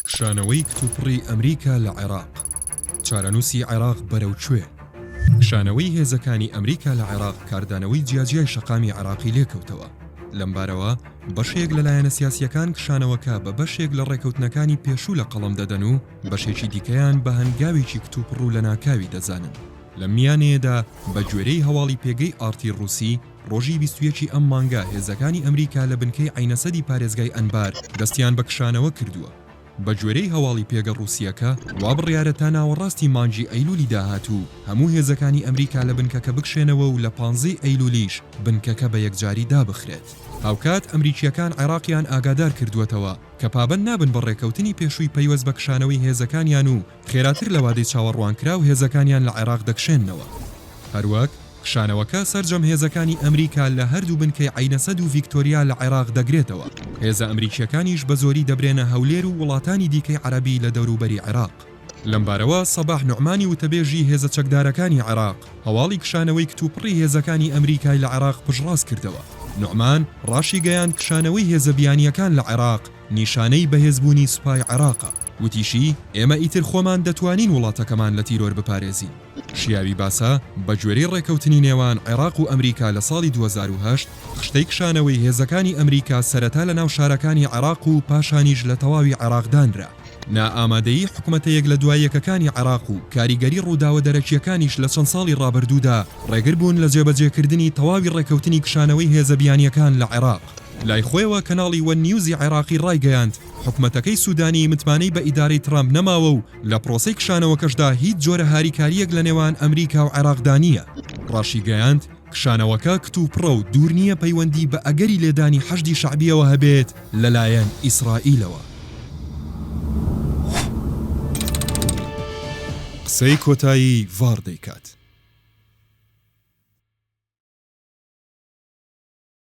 کشانەوەی کتوپڕی ئەمریکا لە عێراق، چارەنووسی عێراق بەرەو کوێ؟ کشانەوەی هێزەکانی ئەمریکا لە عێراق کاردانەوەی جیاجیای شەقامی عێراقی لێکەوتەوە، لەمبارەوە بەشێک لە لایەنە سیاسییەکان کشانەوەکە بە بەشێک لە ڕێکەوتنەکانی پێشوو لە قەڵەم دەدەن و بەشێکی دیکەیان بە هەنگاوێکی کتوپڕ و لەناکاوی دەزانن. لەم میانەیەدا بەگوێرەی هەواڵی پێگەی ئاڕتی ڕووسی، ڕۆژی بیست و یەک ی ئەم مانگە هێزەکانی ئەمریکا لە بنکەی عەینەسەدی پارێزگای ئەنبار دەستیان بە کشانەوە کردووە. بەگوێرەی هەواڵی پێگە ڕووسییەکە، وا بڕیارە تا ناوەڕاستی مانگی ئەیلوولی داهاتوو هەموو هێزەکانی ئەمریکا لە بنکەکە بکشێنەوە و لە پانزە ی ئەیلوولیش بنکەکە بە یەکجاری دابخرێت. هاوکات ئەمریکییەکان عێراقیان ئاگادار کردووەتەوە کە پابەند نابن بە ڕێککەوتنی پێشووی پەیوەست بە کشانەوەی هێزەکانیان و خێراتر لە وادەی چاوەڕوانکراو هێزەکانیان لە عێراق دەکشێننەوە، هەروەک کشانەوەکە سەرجەم هێزەکانی ئەمریکا لە هەردوو بنکەی عەینەسەد و ڤیکتۆریا لە عێراق دەگرێتەوە، هێزە ئەمریکییەکانیش بەزۆری دەبرێنە هەولێر و وڵاتانی دیکەی عەرەبی لە دەوروبەری عێراق. لەمبارەوە سەباح نوعمانی وتەبێژی هێزە چەکدارەکانی عێراق هەواڵی کشانەوەی کتوپڕی هێزەکانی ئەمریکای لە عێراق پشتڕاستکردەوە، نوعمان ڕاشیگەیاند کشانەوەی هێزە بیانییەکان لە عێراق، نیشانەی بەهێزبوونی سوپای عێراقە. وتیشی، ئێمە ئیتر خۆمان دەتوانین وڵاتەکەمان لە تیرۆر بپارێزین. شیاوی باسە، بەگوێرەی ڕێکەوتنی نێوان عێراق و ئەمریکا لە ساڵی دوو هەزار و هەشت، خشتەی کشانەوەی هێزەکانی ئەمریکا سەرەتا لە ناو شارەکانی عێراق و پاشانیش لە تەواوی عێراق دانرا. نائامادەیی حکومەتە یەک لە دوای یەکەکانی عێراق و کاریگەری ڕووداوە دەرەکییەکانیش لە چەند ساڵی ڕابردوودا، ڕێگر بوون لە جێبەجێکردنی تەواوی ڕێکەوتنی کشانەوەی هێزە بیانییەکان لە عێراق. لای خۆیەوە کەناڵی وەن نیوزی عێراقی ڕایگەیاند، حکومەتەکەی سوودانی متمانەی بە ئیدارەی ترامپ نەماوە و لە پرۆسەی کشانەوەکەشدا هیچ جۆرە هاریکارییەک لە نێوان ئەمریکا و عێراقدا نییە. ڕاشیگەیاند، کشانەوەکە کتوپڕە و دوور نییە پەیوەندی بە ئەگەری لێدانی حەشدی شەعبییەوە هەبێت لەلایەن ئیسرائیلەوە. قسەی کۆتایی ڤار دەیکات.